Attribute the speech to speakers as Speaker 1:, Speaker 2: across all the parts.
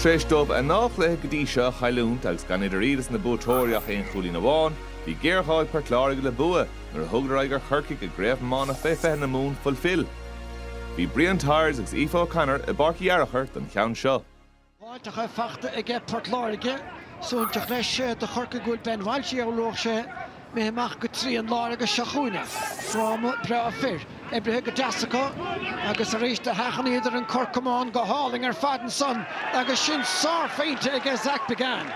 Speaker 1: Tar éis dóibh a ndá chluiche go dtí seo a chailliúint agus gan idir iad is na buaiteoirí ach aon chúilín amháin, bhí géarghá ag Port Láirge le bua nuair a thugadar aghaidh ar Chorcaigh i gCraobh Iomána Fé 20 na Mumhan Fulfil. Bhí Brian Tyers agus Aoife O'Connor i bPáirc Uí Fhearachair don cheann seo.
Speaker 2: Báiteacha fachta aige Port Láirge. Suaithinseach leis do Chorcaigh go bhfuil Ben Walsh a shamhlódh sé. Méith amach go trian láir agus seo chugainn é. Fráma breá fir, oibrithe go deas acu agus arís do sheachnaíodar an corr camán go hálainn ar fad ansan agus sin sárphointe aige Zach Biggane.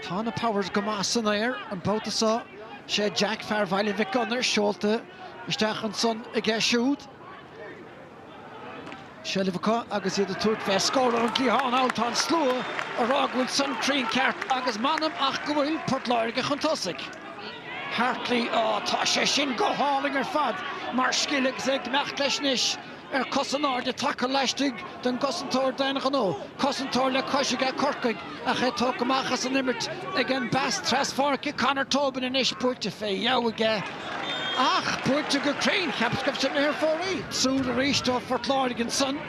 Speaker 2: Tá na Powers go maith san aer an babhta seo, 'sé Jack fear Bhaile Mhic Gonair seolta isteach ansan aige siúd. seilbh acu agus iad ag tabhairt fé scór ón gcliathán thall, tá an slua a rá go bhfuil san cruinn ceart agus m'anam ach go bhfuil Port Láirge chun tosaigh. Hartley, Á, tá sé sin go hálainn ar fad mar scil agus é ag imeacht leis anois ar cos in airde taca laistigh den gcosantóir d'aon ghnó, cosantóir le cois aige Corcaigh. Ach é tógtha amach as an imirt ag an bpas traspháirce, Conor Tobin anois buailte fé dheabhadh aige ach buailte go cruinn, cheapas go raibh sin ar fóraoil. Siúd arís do Phort Láirge ansan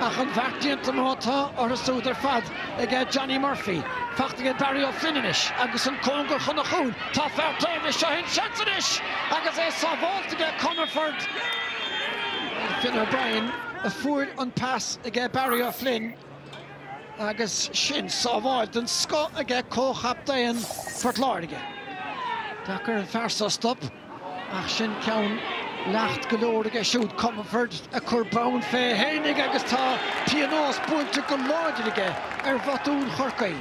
Speaker 2: ach an bheart déanta mar atá orthu siúd ar fad ag Johnny Murphy. Fachta ag Barry Ó Floinn anois agus an cóngar chun an chúil. Tá fear taobh leis, seo é an seans anois agus é sábháilte aige Comerford. Finn O'Brien a fuair an pas ag Barry Ó Floinn. Agus sin sábháil den scoth aige comhchaptaen Phort Láirge. Deacair an fear so a stop ach sin ceann leacht go leor aige siúd, Comerford, ag cur bonn fé fhéinig agus tá pionós buailte go láidir aige ar bhotún Chorcaí.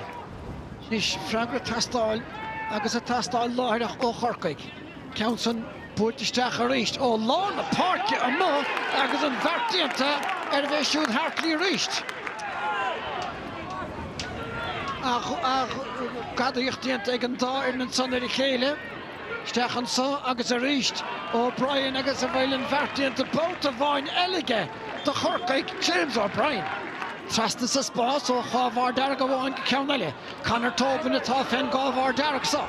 Speaker 2: Anois freagra ag teastáil agus ag teastáil láithreach ó Chorcaigh. Ceann san buailte isteach arís ó lár na páirce amuigh agus an bheart déanta ar a bhféith siúd Hartley arís. Gadaíocht déanta ag an dá fhoireann ansan ar a chéile. Isteach anso agus arís O'Brien agus an bhfuil an bheart déanta babhta amháin eile aige do Chorcaigh, James O'Brien. Trasna sa spás ó chathbharr dearg amháin go ceann eile. Conor Tobin atá fén gcathbharr dearg so.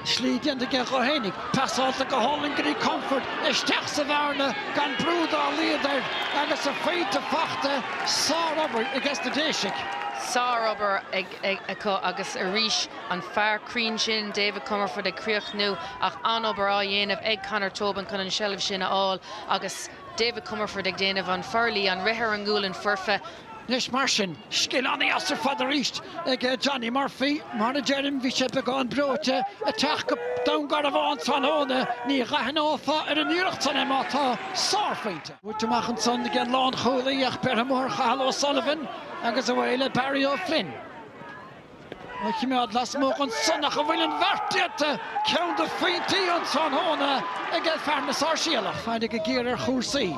Speaker 2: Slí déanta aige dhó fhéinig, passáilte go hálainn go dtí Comerford, isteach sa bhearna gan brú dá laghad air, agus a phointe fachta. Sárobair aige sna Déisigh. Sárobair
Speaker 3: acu agus arís an fear cruinn sin David Comerford ag críochnú, ach an-obair á dhéanamh ag Conor Tobin chun an tseilbh sin a fháil agus David Comerford ag déanamh an forluí, an rith ar an ngualainn foirfe. Anois mar
Speaker 2: sin, scil an-dheas ar fad arís ag Johnny Murphy. Mar a deirim, bhí sé beagán breoite ag teacht go Dún Garbhán tráthnóna. Ní dh'aithneofá ar an iarracht san é má tá sárphointe buaite amach ansan ag an lánchúlaí ach beirthe mór Chathal O'Sullivan agus away le Barry Ó Floinn. a choimeád lasmuigh ansan ach an bhfuil an bheart déanta, ceann de phointí an tráthnóna aige fear na Sáirséalach, faire go géar ar chúrsaí,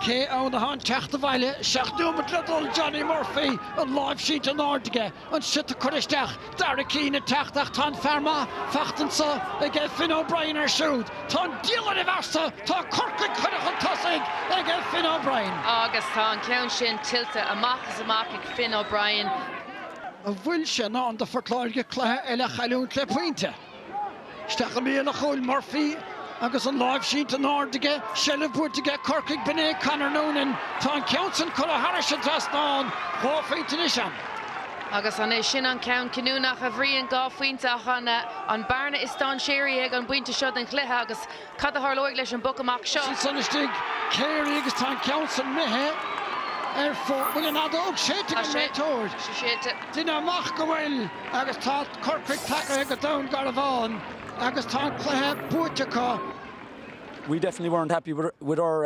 Speaker 2: cé ann atá an teacht abhaile, seacht nóimeat le dul, Johnny Murphy, an láimh sínte in airde aige, an siota curtha isteach, Darragh Keane ag teacht ach tá an fear maith fachta anso aige Finn O'Brien air siúd, tá an diabhal ar a mhearsa, tá Corcaigh curtha chun tosaigh aige Finn O'Brien. Agus tá an ceann
Speaker 3: sin tuillte amach is amach ag Finn O'Brien.
Speaker 2: An bhfuil sé i ndán do Phort Láirge cluiche eile a chailliúint le pointe? Isteach i mbéal an chúil, Murphy agus an láimh sínte in airde aige, seilbh buaite aige Corcaigh b'in é Conor Noonan. Tá an ceann sin curtha thairis an dtrasnán, dhá phointe anois ann. Agus
Speaker 3: an é sin an ceann cinniúnach, a Bhriain, dhá phointe ach an an bearna is dainséaraí ag an bpointe seo den chluiche agus Cad a tharlóidh leis an bpoc amach seo? Sé san
Speaker 2: istigh, Carey agus tá an ceann san imithe ar fóir. Bhfuil an fheadóg séidte ag an réiteoir? Tá sé séidte. Deinim amach go bhfuil agus tá Corcaigh tagaithe go Dún Garbhán agus tá an cluiche buaite acu. we
Speaker 4: definitely weren't happy with our.